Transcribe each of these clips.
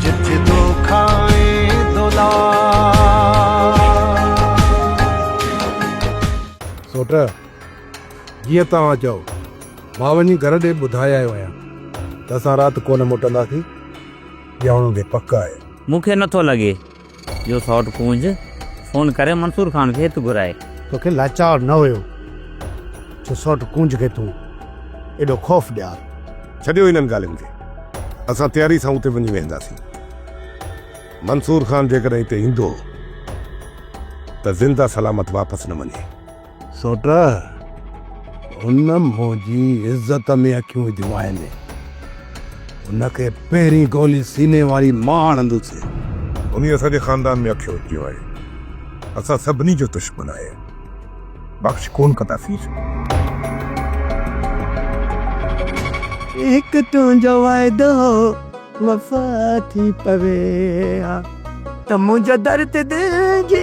جت دوکا ۽ دولار. سوٽ، جيئن توهان چئو. مان وڃي گهر ڏي ٻڌائي آيو آهيان ته اسان رات ڪونه موٽنداسين. ڄائڻو به پڪ آهي. مون کي نٿو لڳي. جو سئوٽ ڪونج فون ڪري منصور خان کي هت گهرائي. توکي لاچار نه هيو جو سئوٽ ڪونج کي تون ايڏو خوف ڏيار. ڇڏيو انهن ڳالهين کي. اسان تياري سان اتي وڃي ويهنداسين. منصور خان جيڪڏهن هتي ايندو ته زنده سلامت واپس نه وڃي. سوٽه، هن منهنجي عزت ۾ اکيون وڌيون آهن. هن کي پهرين گولي سيني واري مان هڻندس. انهيء اسان جي خاندان ۾ اکيون وڌيون آهن. اسان سڀني جو دشمن آهي. بخش ڪونه ڪنداسين. هڪ تنهنجو وعدو وفا ٿي پوي ها ته منهنجو درد دل جي.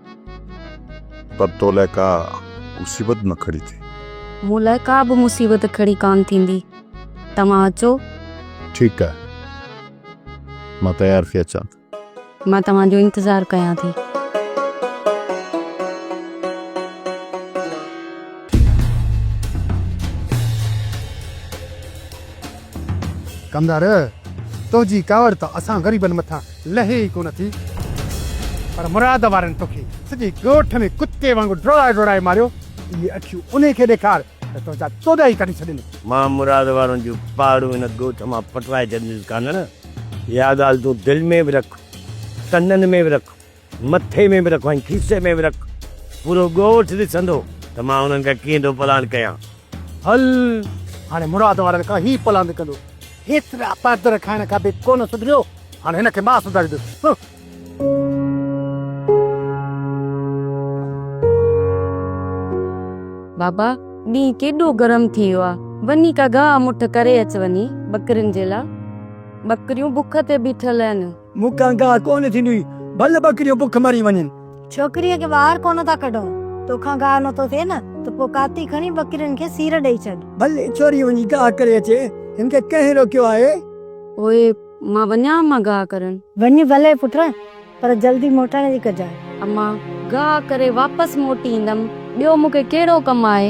پر تو لاء ڪا مصيبت نه کڙي ٿي. مون لاء ڪا به مصيبت کڙي ڪانه ٿيندي. توهان اچو. ٺيڪ آهي. مان تيار ٿي اچان ٿي. مان توهان جو انتظار ڪيان ٿي. ڪمدار، تنهنجي ڪاوڙ ته اسان غريبن مٿان لهي ئي ڪونه ٿي پر مراد وارن توکي سڄي ڳوٺ ۾ ڪتي وانگر ڊوڙائي ڊوڙائي ماريو اهي اکيون انهي کي ڏيکار ته تنهنجا توڏا ئي ڪڍي ڇڏين. مان مراد وارن جون پهاڙون هن ڳوٺ مان پٽرائي ڇڏينديس ڪانهڙ اها ڳالهه تون دل ۾ به رک ڪنن ۾ به رک مٿي ۾ به رک ۽ کيسي ۾ به رک پورو ڳوٺ ڏسندو ته مان انهن کي ڪيئن ٿو پلاڻ ڪيان. هل، هاڻي مراد وارن کان هي پلاند ڪندو. هيترا پردر کائڻ کان به ڪونه سڌريو، هاڻي هن کي مان سڌاريندس، هه. بابا، ڏينهن ڪيڏو گرم ٿي ويو آ، وڃي ڪا گاهه مٺ ڪري اچ وڃي ٻڪرين جي لا. ٻڪريون بک تي بيٺل آهن. مون کان گاهه ڪونه ٿيندي. ڀل ٻڪريون بک مري وڃن. ڇوڪريء کي ٻاهر ڪونه ٿا ڪڍون. تو کان گاهه نه ٿو ٿئي نه ته پوء ڪاتي کڻي ٻڪرين کي سير ڏئي ڇڏ. ڀل ڇوري وڃي گاهه ڪري اچي. هن کي ڪنهن روڪيو آهي؟ پوء مان وڃان امان گاهه ڪرڻ. وڃ ڀلي پٽ، پر جلدي موٽڻ جي ڪجانء. امان گاهه ڪري واپس موٽي ايندم. ٻيو مون کي ڪهڙو ڪم آهي؟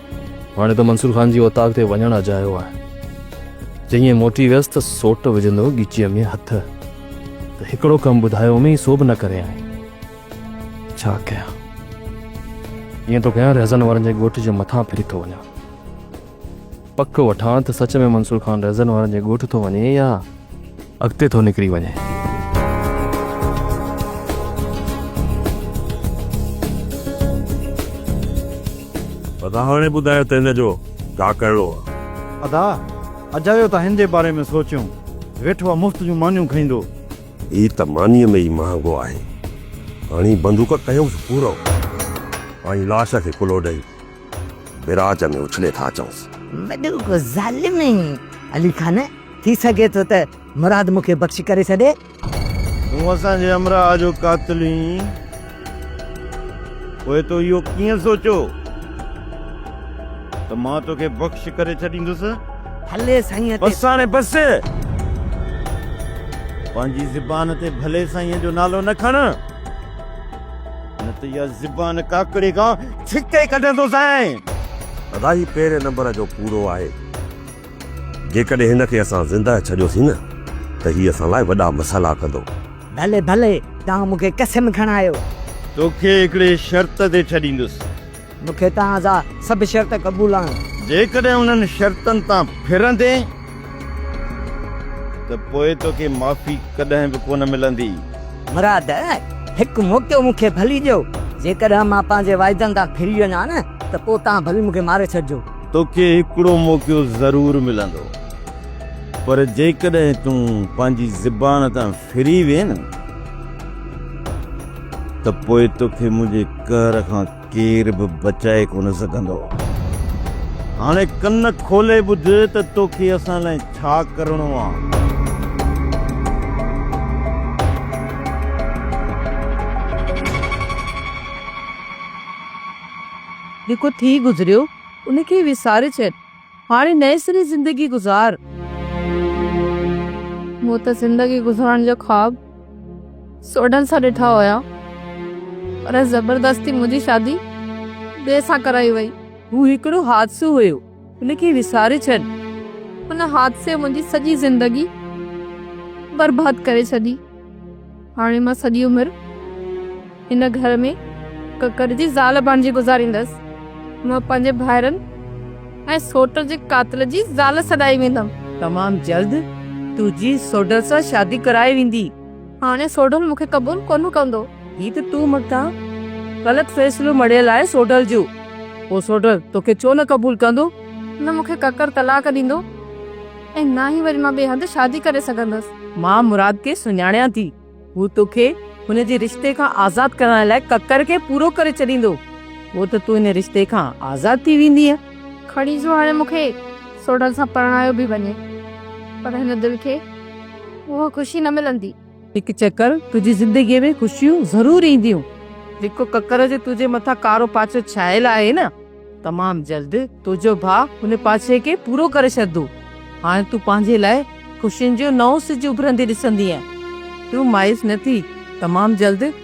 هاڻي ته منصور خان جي اوطاق تي وڃڻ اجايو آهي. جيئن موٽي ويس ته سوٽ وجهندو ڳچيء ۾ هٿ ته هڪڙو ڪم ٻڌايو ۾ سو به نه ڪريائين. ڇا ڪيان؟ ائين ٿو ڪيان رهزن وارن جي ڳوٺ جي مٿان ڦري ٿو وڃان. پڪ وٺان ته سچ ۾ منصور خان رهزن وارن جي ڳوٺ ٿو وڃي يا اڳتي ٿو نڪري وڃي. ادا هاڻي ٻڌايو ته هن جو ڪا ڪهڙو آ. ادا اجايو ته هن جي باري ۾ سوچيون ويٺو آ مفت جون مانيون کئيندو. هي ته مانيء ۾ ئي مهانگو آهي. هاڻي بندوق ڪيوس پورو ۽ لاش کي ڪلهو ڏئي. ويراڄ ۾ اڇلي ٿا اچونس. وڏو ڪو ظالم آهين علي خان، ٿي سگهي ٿو ته مراد مون کي بخشي ڪري ڇڏي. تون اسان جي همراهه جو قاتل هئين، پوء تو اهو ڪيئن سوچيو ته مان توکي بخشي ڪري ڇڏيندس؟ ڀلي سائين تي. بس هاڻي بس! پنهنجي زبان تي ڀلي سائين جو نالو نه کڻ. نه ته اها زبان ڪاڪڙي کان ڇڪي ڪڍندوسانء. ادا هي پهرين نمبر جو ڪوڙو آهي. جيڪڏهن هن کي اسان زنده ڇڏيوسين نه ته هي اسان لاء وڏا مسئلا ڪندو. ڀلي ڀلي توهان مون کي قسم کڻايو. توکي هڪڙي شرط تي ڇڏيندس. مون کي توهان جا سڀ شرط قبول آهن. جيڪڏهن انهن شرطن تان ڦرندين ته پوء توکي معافي ڪڏهن به ڪونه ملندي. مراد، هڪ موقعو مون کي ڀلي ڏيو. جيڪڏهن مان پنهنجي وعدن تان ڦري وڃان ها نه ته پوء توهان ڀلي مون کي ماري ڇڏجو. توکي هڪڙو موقعو ضرور ملندو، پر جيڪڏهن تون پنهنجي زبان تان. ڦري وين ته پوء توکي منهنجي قهر کان ڪير به بچائي ڪونه سگهندو. هاڻي ڪن کولي ٻڌ ته توکي اسان لاء ڇا ڪرڻو آ. جيڪو ٿي گذريو ان کي وساري ڇڏ. هاڻي نئين سري زندگي گذار. مون ته زندگي گذارڻ جا خواب سوڍن سان ڏٺا هيا پر زبردستي منهنجي شادي ٻئي سان ڪرائي وئي. هو هڪڙو حادثو هيو ان کي وساري ڇڏ. ان حادثي منهنجي سڄي زندگي برباد ڪري ڇڏي. هاڻي مان سڄي عمر هن گهر ۾ ڪڪر جي زال بڻجي گذاريندس. مان پنهنجي ڀائرن ۽ سوٽ جي قاتل جي زال سڏائي ويندم. تمام جلد تنهنجي سوڍل سان شادي ڪرائي ويندي. هاڻي سوڍل مون کي قبول ڪونه ڪندو. هي ته تو مٿان غلط فيصلو مڙهيل آهي سوڍل جو. پوء سوڍل توکي ڇو نه قبول ڪندو؟ نه مون کي ڪڪر طلاق ڏيندو. ۽ نه ئي وري مان ٻئي هنڌ شادي ڪري سگهندس. مان مراد کي سڃاڻيان ٿي. هو توکي هن جي رشتي کان آزاد ڪرائڻ لاء ڪڪر کي پورو ڪري ڇڏيندو. پوء ته تون هن رشتي کان آزاد ٿي ويندينء. کڻي جو هاڻي مون کي سوڍن سان پرڻايو به وڃي پر هن دل کي اها خوشي نه ملندي. هڪ چڪر تنهنجي زندگيء ۾ خوشيون ضرور اينديون. جيڪو ڪڪر جو تنهنجي مٿان ڪارو پاڇو ڇايل آهي نه، تمام جلد تنهنجو ڀاء ان پاڇي کي پورو ڪري ڇڏندو. هاڻي تون پنهنجي لاء خوشين جو نئون سج اڀرندي ڏسندينء. تون مايوس نه ٿي، تمام جلد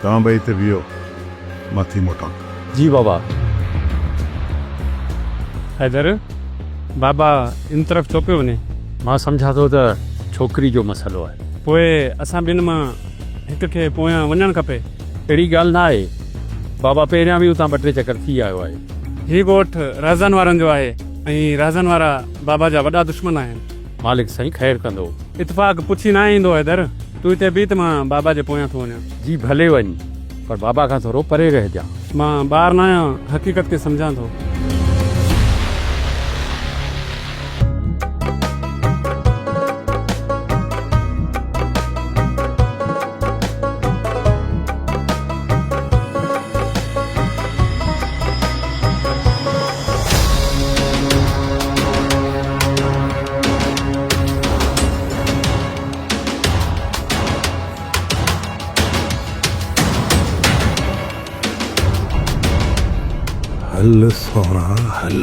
توهان ٻئي هتي بيهو مان ٿي موٽان ٿو. جي بابا. حيدر، بابا ان طرف ڇو پيو وڃي؟ مان سمجهان ٿو ته ڇوڪري جو مسئلو آهي. پوء اسان ٻن مان هڪ کي پويان وڃڻ کپي. اهڙي ڳالهه نه آهي. بابا پهريان به اتان ٻه ٽي چڪر ٿي آيو آهي. هي ڳوٺ رهزان وارن جو آهي ۽ رهزان وارا بابا جا وڏا دشمن آهن. مالڪ سائين خير ڪندو. اتفاق پڇي ناهي ايندو حيدر. تون هتي بيهه ته مان بابا جي پويان ٿو وڃان. جي ڀلي وڃ پر بابا کان ٿورو پري رهجان. مان ٻار ناهيان حقيقت کي سمجهان ٿو. هل سهڻا هل.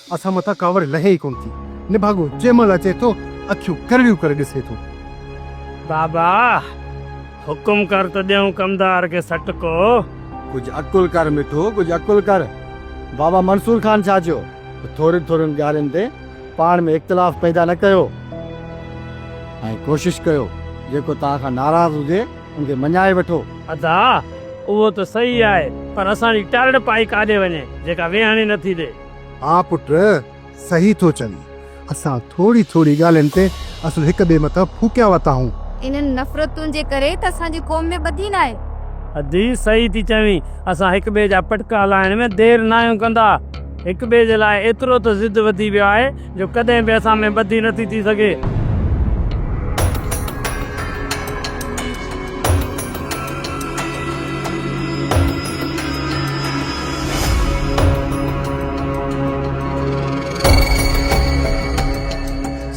اسان مٿان ڪاوڙ لهي ئي ڪونه ٿي. نڀاڳو جنهن مهل اچي ٿو، اکيون ڪرڙيون ڪري ڏسي ٿو. بابا! حڪم ڪر ته ڏيون ڪمدار کي سٽڪو. ڪجهه عقل ڪر مٺو، ڪجهه عقل ڪر. بابا منصور خان ڇا چيو ته ٿورين ٿورين ڳالهين تي پاڻ ۾ اختلاف پيدا نه ڪيو ۽ ڪوشش ڪيو جيڪو توهان کان ناراض هجي ان کي مڃائي وٺو. ادا! اهو ته صحيح آهي پر اسان جي ٽارڙ پائي ڪاڏي وڃي جيڪا ويهڻ ئي نه ٿي ڏي. ها پٽ، صحيح ٿو چوين. اسان ٿوري ٿوري ڳالهين تي اصل هڪ ٻئي مٿان ڦوڪيا وتا هون. انهن نفرتن جي ڪري ته اسان جي قوم ۾ ٻڌي ناهي. ادي، صحيح ٿي چوين. اسان هڪ ٻئي جا پٽڪا هلائڻ ۾ دير ناهيون ڪندا. هڪ ٻئي جي لاء ايترو ته ضد وڌي ويو آهي جو ڪڏهن به اسان ۾ ٻڌي نه ٿي ٿي سگهي.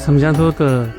سمجهان ٿو ته.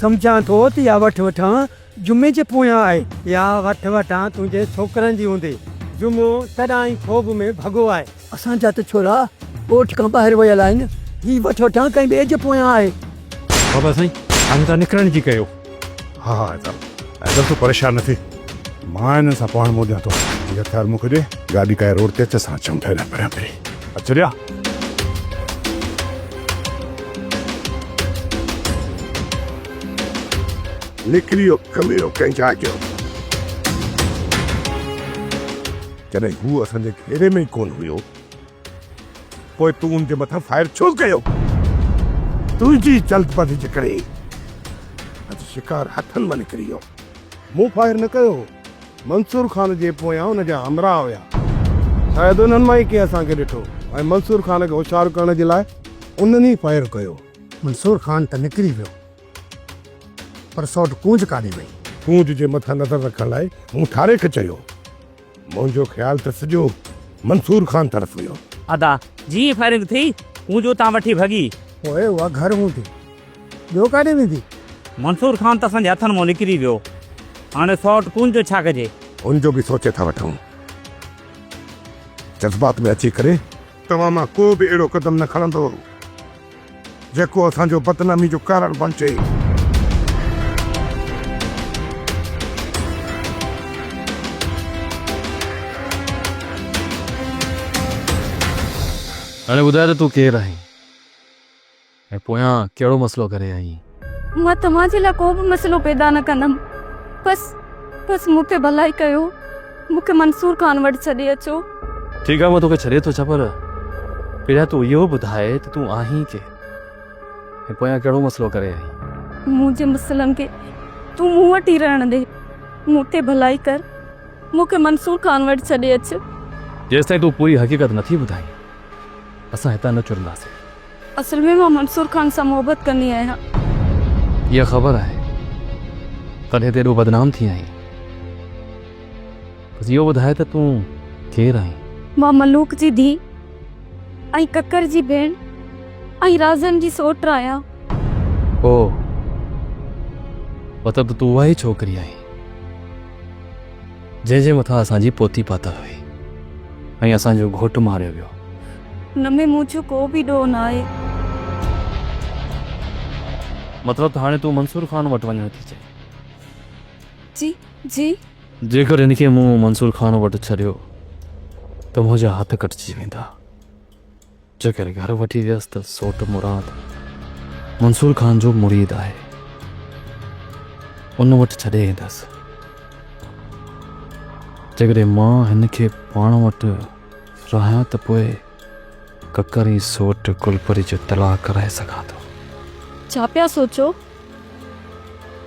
سمجهان ٿو ته اها وٺ وٺان جمعي جي پويان آهي. اها وٺ وٺان تنهنجي ڇوڪرن جي هوندي. جمعو تڏهن ئي خوب ۾ ڀڳو آهي. اسان جا ته ڇورا ڳوٺ کان ٻاهر ويل آهن. هي وٺ وٺان ڪنهن ٻئي جي پويان آهي. بابا سائين هاڻي تان نڪرڻ جي ڪيو. ها ها ادم ادم تون پريشان نه ٿي. مان هنن سان پاڻ موڏيان ٿو هي هٿيار مون کي ڏي گاڏي ڪاهي روڊ تي اچ اسان اچون ٿا هيڏانهن پريان پري اچ ريا نڪري ويو ڪميرو ڪنهن جاء جو جڏهن هو اسان جي گهيري ۾ ئي ڪونه هيو پوء تون ان جي مٿان فائر ڇو ڪيو؟ تنهنجي جلدبازي جي ڪري اڄ شڪار هٿن مان نڪري ويو. مون فائر نه ڪيو هو. منصور خان جي پويان ان جا همراهه هيا. شايد انهن مان ئي ڪنهن اسان کي ڏٺو ۽ منصور خان کي هوشيار ڪرڻ جي لاء انهن ئي فائر ڪيو. منصور خان ته نڪري ويو پر سئوٽ ڪونج ڪاڏي وئي؟ ڪونج جي مٿان نظر رکڻ لاء مون ٺاري کي چيو. منهنجو خيال ته سڄو منصور خان طرف هيو. ادا جيئن ئي فائرنگ ٿي، هو جو اتان وٺي ڀڳي. پوء اها گهر هوندي، ٻيو ڪاڏي ويندي؟ منصور خان ته اسان جي هٿن مان نڪري ويو. هاڻي سئوٽ ڪون جو ڇا ڪجي؟ ان جو به سوچي ٿا وٺون. جذبات ۾ اچي ڪري. توهان مان ڪو به اهڙو قدم نه کڻندو، جيڪو اسان جو بدنامي جو ڪارڻ بڻجي. هاڻي ٻڌاء ته تون ڪير آهين ۽ پويان ڪهڙو مسئلو ڪري آئين؟ مان توهان جي لاء ڪو به مسئلو پيدا نه ڪندم بس بس مون کي ڀلائي ڪيو مون کي منصور خان وٽ ڇڏي اچو. ٺيڪ آ مان توکي ڇڏي ٿو اچان پر پهريان تون اهو ٻڌاء ته تون آهين ڪير ۽ پويان ڪهڙو مسئلو ڪري آئين. منهنجي مسئلن کي تون مون وٽ ئي رهڻ ڏي مون تي ڀلائي ڪر مون کي منصور خان وٽ ڇڏي اچ. جيستائين تون پوري حقيقت نٿي ٻڌائين اسان هتان نه چرنداسين. اصل ۾ مان منصور خان سان محبت ڪندي آهيان. هيء خبر آهي تڏهن تون ايڏو بدنام ٿي آهين. بس اهو ٻڌاء ته تون ڪير آهين؟ مان ملوڪ جي ڌيء ۽ ڪڪر جي ڀيڻ ۽ رازن جي سئوٽ آهيان. اوهه! مطلب ته تون اها ئي ڇوڪري آهين جنهن جي مٿان اسان جي پوتي پاتل هئي ۽ اسان جو گهوٽ ماريو ويو. هن ۾ مون جو ڪو به ڏوهه ناهي. مطلب ته هاڻي تون منصور خان وٽ وڃڻ ٿي چئين؟ جي جي. جيڪر هن کي مون منصور خان وٽ ڇڏيو ته منهنجا هٿ ڪٽجي ويندا. جيڪر گهر وٺي ويس ته سوٽ مراد منصور خان جو مريد آهي. ان وٽ ڇڏي ايندس. جيڪڏهن مان هن کي پاڻ وٽ. رهان ته پوء ڪڪر ۽ سوٽ گلپري جو طلاق ڪرائي سگهان ٿو. ڇا پيا سوچو؟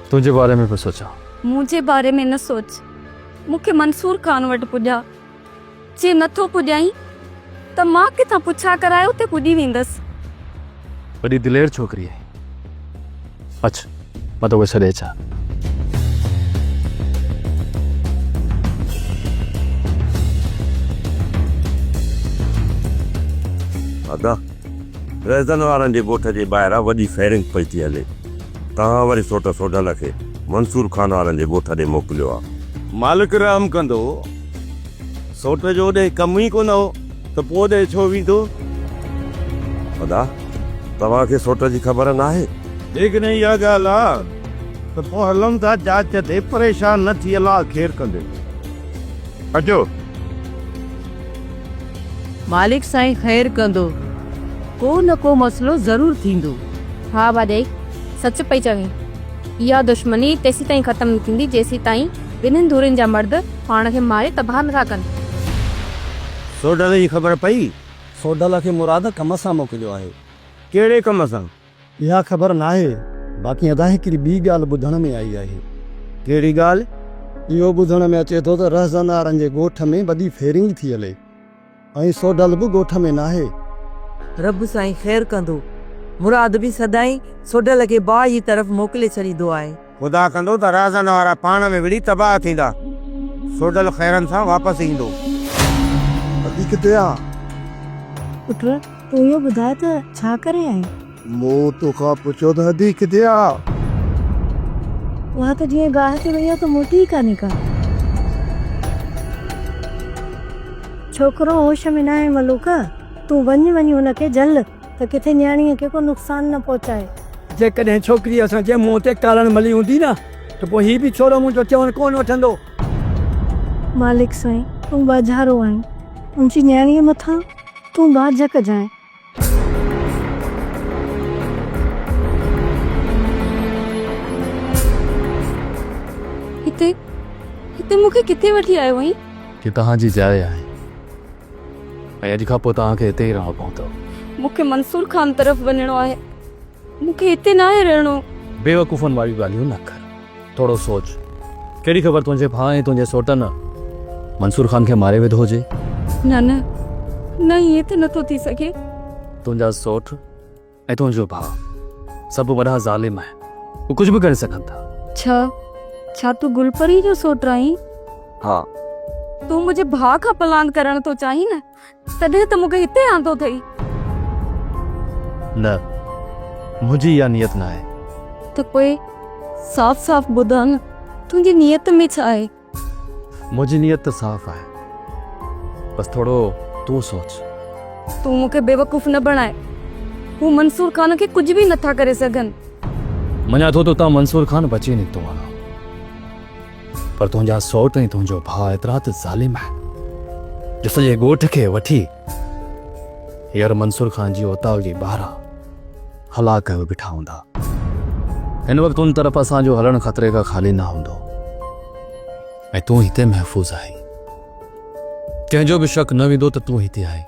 تنهنجي باري ۾ پيو سوچان. منهنجي باري ۾ نه سوچ. مون کي منصور خان وٽ پڄاء. جي نٿو پڄائين ته مان ڪٿان پڇا ڪرائي اتي پڄي ويندس. وڏي دلير ڇوڪري آهي. اچ مان توکي ڇڏي اچان. ادا ريزن وارن جي ڳوٺ جي ٻاهران وڏي فائرنگ پئي ٿي هلي. توهان وري سوٽ سوڍن کي منصور خان وارن جي ڳوٺ ڏي موڪليو آهي. مالڪ رحم ڪندو. سوٽ جو اوڏهين ڪم ئي ڪونه هو. ته پوء ڏي ڇو ويندو؟ ادا، توهان کي سوٽ جي خبر ناهي؟ جيڪڏهن اها ڳالهه آ ته پوء هلون ٿا جاچ تي، پريشان نه ٿي، الله خير ڪندي. اچو. مالڪ سائين خير ڪندو، ڪو نه ڪو مسئلو ضرور ٿيندو. ها ڀاڄائي، سچ پئي چوين. اها دشمني تيسيتائين ختم نه ٿيندي، جيسيتائين ٻنهين ڌرين جا مرد، پاڻ کي ماري تباهه نه ٿا ڪن. سوڍل جي خبر پئي؟ سوڍل کي مراد ڪم سان موڪليو آهي. ڪهڙي ڪم سان؟ اها خبر ناهي، باقي ادا هڪڙي ٻي ڳالهه ٻڌڻ ۾ آئي آهي. ڪهڙي ڳالهه؟ اهو ٻڌڻ ۾ اچي ٿو ته رهزنارن جي ڳوٺ ۾ وڏي ڦيرنگي ٿي هلي. ۽ سوڍل به ڳوٺ ۾ ناهي. رب سائين خير ڪندو. مراد به سدائين سوڍل کي باهه جي طرف موڪلي ڇڏيندو آهي. خدا ڪندو ته رازن وارا پاڻ ۾ وڙهي تباهه ٿيندا. سوڍل خيرن سان واپس ايندو. ادي ڪٿي آ؟ پٽ تون اهو ٻڌاء ته ڇا ڪري آئين؟ مون تو کان پڇيو ته ادي ڪٿي آ؟ اها ته جيئن گاهه تي وئي آ ته موٽي ئي ڪانهي ڪا. ڇوڪرو هوش ۾ ناهي ملوڪه، تون وڃ وڃي هن کي جهل ته ڪٿي نياڻيء کي ڪو نقصان نه پهچائي. جيڪڏهن ڇوڪريء اسان جي منهن تي ڪارڻ ملي هوندي نه ته پوء هي به ڇورو منهنجو چوڻ ڪونه وٺندو. مالڪ سائين، تون ٻاجهارو آهين، منهنجي نياڻيء مٿان تون ٻاجهه ڪجانء هتي هتي مون کي ڪٿي وٺي آيو آهين هي توهان جي جاء آهي ۽ اڄ کان پوء توهان کي هتي ئي رهڻو پوندو مون کي منصور خان طرف وڃڻو آهي مون کي هتي ناهي رهڻو. بيوقوفن واريون ڳالهيون نه ڪر. ٿورو سوچ. ڪهڙي خبر تنهنجي ڀاء ۽ تنهنجي سوٽن منصور خان کي ماري وڌو هجي. نه نه نه ائين ته نٿو ٿي سگهي. تنهنجا سوٽ ۽ تنهنجو ڀاء سڀ وڏا ظالم آهن. هو ڪجهه به ڪري سگهن ٿا. ڇا ڇا تون گل پريء جو سوٽ آهين؟ ها. تون منهنجي ڀاء کان پلاند ڪرڻ ٿو چاهين نه؟ تڏهن ته مون کي هتي آندو اٿئي. نه، منهنجي اها نيت ناهي. ته پوء صاف صاف ٻڌاء نه، تنهنجي نيت ۾ ڇا آهي؟ منهنجي نيت ته صاف آهي. بس ٿورو تون سوچ. تون مون کي بيوقوف نه بڻاء. هو منصور خان کي ڪجهه به نٿا ڪري سگهن. مڃان ٿو ته اتان منصور خان بچي نڪتو آهي. پر تنهنجا سوٽ ۽ تنهنجو ڀاء ايترا ته ظالم آهن جو سڄي ڳوٺ کي وٺي هيئر منصور خان جي اوطاق جي ٻاهران هلاڪ ڪيو بيٺا هوندا. هن وقت ان طرف اسان جو هلڻ خطري کان خالي نه هوندو ۽ تون هتي محفوظ آهين. ڪنهن جو به شڪ نه ويندو ته تون هتي آهين.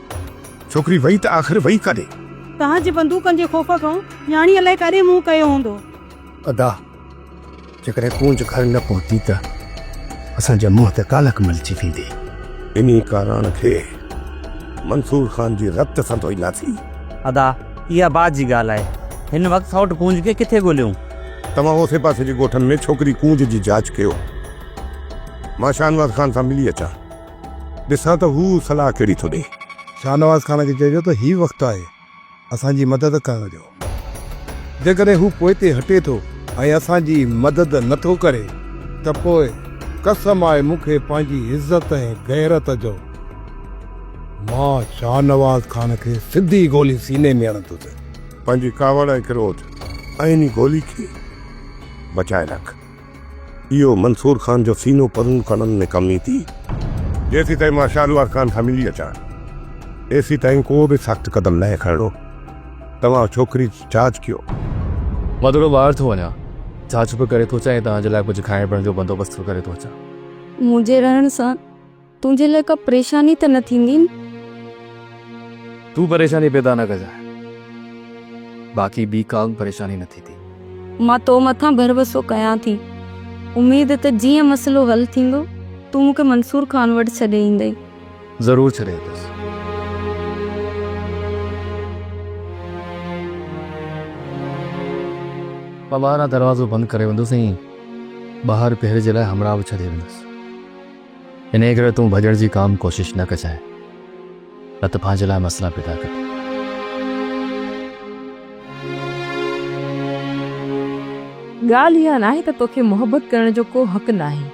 ڇوڪري وئي ته آخر وئي ڪاڏي؟ توهان جي بندوقن جي خوف کان نياڻي الائي ڪاڏي منهن ڪيو هوندو. ادا جيڪڏهن ڪونج گهر نه پهتي ته اسان جي منهن تي ڪالڪ ملجي ويندي. انهي ڪاراڻ کي منصور خان جي رت سان ڌوئينداسين. ادا اها بعد جي ڳالهه آهي. هن وقت سئوٽ ڪونج کي ڪٿي ڳوليون؟ توهان اوسي پاسي جي ڳوٺن ۾ ڇوڪري ڪونج جي جاچ ڪيو. مان شاهنواز خان سان ملي اچان. ڏسان ته هو صلاح ڪهڙي ٿو ڏئي. شاهنواز خان کي چئجو ته هي وقت آهي اسان جي مدد ڪرڻ جو. جيڪڏهن هو پوئتي هٽي ٿو ۽ اسان جي مدد نه ٿو ڪري ته پوء قسم آهي مون کي پنهنجي عزت ۽ غيرت جو. مان شاهنواز خان کي سڌي گولي سيني ۾ هڻندس. پنهنجي ڪاوڙ ۽ ڪروڌ ۽ ان گولي کي بچائي رک. اهو منصور خان جو سينو پرون کڻڻ ۾ ڪم ايندي. جيسين تائين مان شهريار خان سان ملي اچان، تيسين تائين ڪو به سخت قدم ناهي کڻڻو. توهان ڇوڪري جي جاچ ڪيو. مان ٿورو ٻاهر ٿو وڃان. جاچ به ڪري ٿو اچان ۽ توهان جي لاء ڪجهه کائڻ پيئڻ جو بندوبست به ڪري ٿو اچان. منهنجي رهڻ سان تنهنجي لاء ڪا پريشاني ته نه ٿيندي؟ تون پريشاني پيدا نه ڪجانء، باقي ٻي ڪا به پريشاني نه ٿيندي. مان تو مٿان ڀروسو ڪيان ٿي. اميد ته جيئن مسئلو حل ٿيندو، تون مون کي منصور خان وٽ ڇڏي ايندين. ضرور ڇڏي ايندس. مان ٻاهران دروازو بند ڪري ويندس ۽ ٻاهر پهري جي لاء همراهه به ڇڏي ويندس. انهيء ڪري تون ڀڄڻ جي ڪا به ڪوشش نه ڪجانء، نه ته پنهنجي لاء مسئلا پيدا ڪندين. ڳالهه اها ناهي ته توکي محبت ڪرڻ جو ڪو حق ناهي،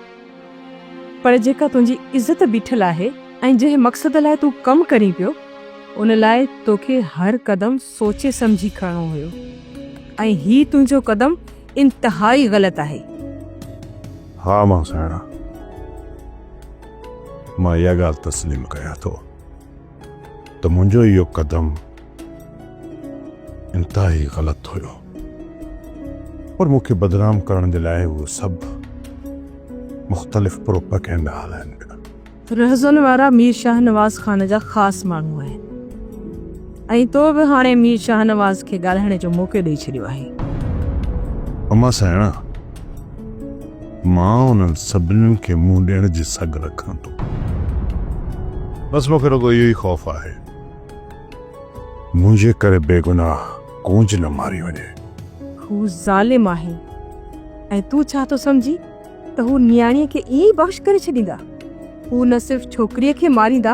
پر جيڪا تنهنجي عزت بيٺل آهي ۽ جنهن مقصد لاء تون ڪم ڪرين پيو، ان لاء توکي هر قدم سوچي سمجهي کڻڻو هيو ۽ هي تنهنجو قدم انتهائي غلط آهي. ها مان سهڻا، مان اها ڳالهه تسليم ڪيان ٿو ته منهنجو اهو قدم انتهائي غلط هيو پر مون کي بدنام ڪرڻ جي لاء اهي سڀ مختلف پروپئگينڊا هلائن پيا. رهزن وارا مير شاهنواز خان جا خاص ماڻهو آهن ۽ تو به هاڻي مير شاهنواز کي ڳالهائڻ جو موقعو ڏئي ڇڏيو آهي. اما سهڻا، مان انهن سڀنين کي منهن ڏيڻ جي سگهه رکان ٿو. بس مون کي رڳو اهو ئي خوف آهي منهنجي ڪري بيگناهه ڪونج نه ماري وڃي. هو ظالم آهي ۽ تون ڇا ٿو سمجهين؟ ته هو نياڻيء کي ائين ئي بخش ڪري ڇڏيندا. هو نه صرف ڇوڪريء کي ماريندا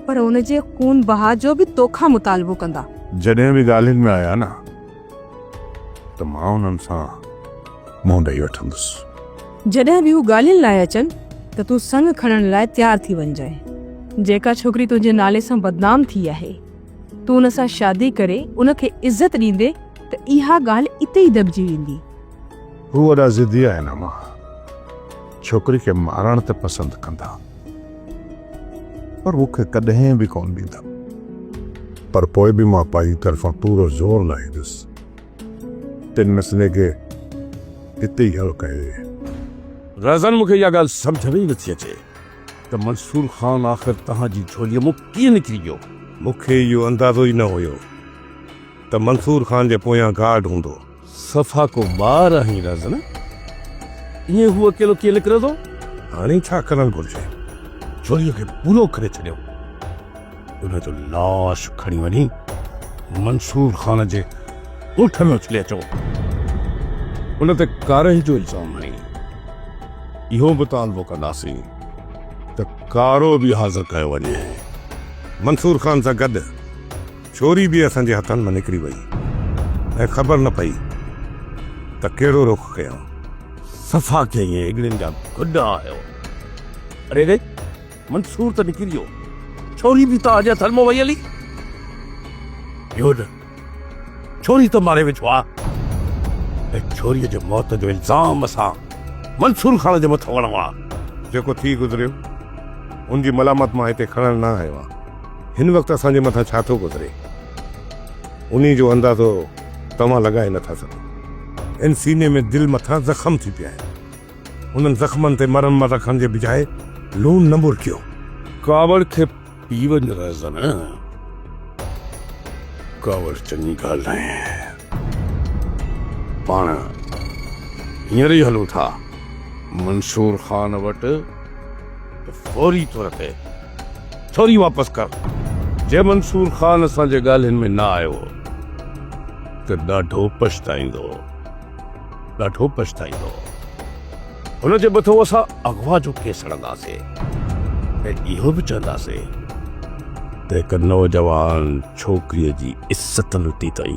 پر ان جي خون بها جو به توکان مطالبو ڪندا. جڏهن به ڳالهين ۾ آيا نه ته مان انهن سان منهن ڏئي وٺندس. جڏهن به هو ڳالهين لاء اچن ته تون سڱ کڻڻ لاء تيار ٿي وڃجانء. جيڪا ڇوڪري تنهنجي نالي سان بدنام ٿي آهي، تون ان سان شادي ڪري ان کي عزت ڏيندين ته اها ڳالهه اتي ئي دٻجي ويندي. هو وڏا ضدي آهن اما. ڇوڪري کي مارڻ ته پسند ڪندا پر مون کي ڪڏهن به ڪونه ڏيندا. پر پوء به مان پنهنجي طرفان پورو زور لاهيندس. تن مسئلي کي اتي ئي حل ڪيو. رهزان مون کي اها ڳالهه سمجهه ۾ ئي نٿي اچي ته منصور خان آخر توهان جي جهوليء مون ڪيئن نڪري ويو. مون کي اهو اندازو ئي نه هيو ته منصور خان جي پويان گارڊ هوندو. صفا ڪو ٻار آهين رزن. ائين هو اڪيلو ڪيئن نڪرندو؟ هاڻي ڇا ڪرڻ گهرجي؟ چوريء کي پورو ڪري ڇڏيو. ان جو لاش کڻي وڃي منصور خان جي ڳوٺ ۾ اڇلي اچو. ان تي ڪارهي جو الزام هڻي اهو مطالبو ڪنداسين ته ڪارو به حاضر ڪيو وڃي منصور خان سان گڏ. ڇوري به اسان جي هٿن مان نڪري وئي ۽ خبر نه پئي ته ڪهڙو رخ ڪيائون. صفا ڪيئي ۽ اڳڙين جا گڏا هيو. اڙي ري! منصور ته نڪري ويو، ڇوري به توهان جي هٿن مان وئي هلي. اهو نه، ڇوري ته ماري وجهو ها ۽ ڇوريء جي موت جو الزام اسان منصور خان جي مٿان هڻئون ها. جيڪو ٿي گذريو، ان جي ملامت مان هتي کڻڻ نه آيو آهيان. هن وقت اسان جي مٿان ڇا ٿو گذري، انهي جو اندازو توهان لڳائي نه ٿا سگهو. هن سيني ۾ دل مٿان زخم ٿي پيا آهن. انهن زخمن تي مرمت رکڻ جي بجاء لوڻ نه ٻرڪيو. ڪاوڙ کي پي وڃ رهزن. ڪاوڙ چڱي ڳالهه ناهي. پاڻ هينئر ئي هلون ٿا منصور خان وٽ ته فوري طور تي ڇوري واپس ڪر. جي منصور خان اسان جي ڳالهين ۾ نه آيو ته ڏاڍو پڇتائيندو، ڏاڍو پڇتائيندو. هن چيو به ٿو اسان اغوا جو ڪيس لڙنداسين ۽ اهو به چونداسين ته هڪ نوجوان ڇوڪريء جي عزت لٽي اٿئي،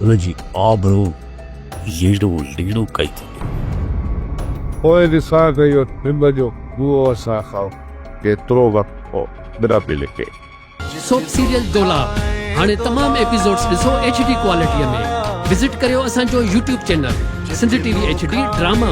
ان جي آبرو ييڙو ليڙو ڪئي اٿئي. پوء ڏسان ته اهو ننڊ جو ڪوئو اسان کان ڪيترو وقت پوء نه پئي لڪي. سوپ سيريل دولاب هاڻي تمام ايپيسوڊز ڏسو ايڇ ڊي ڪوالٽي ۾ وزٽ ڪريو اسان جو YouTube channel Sindh T V H D drama.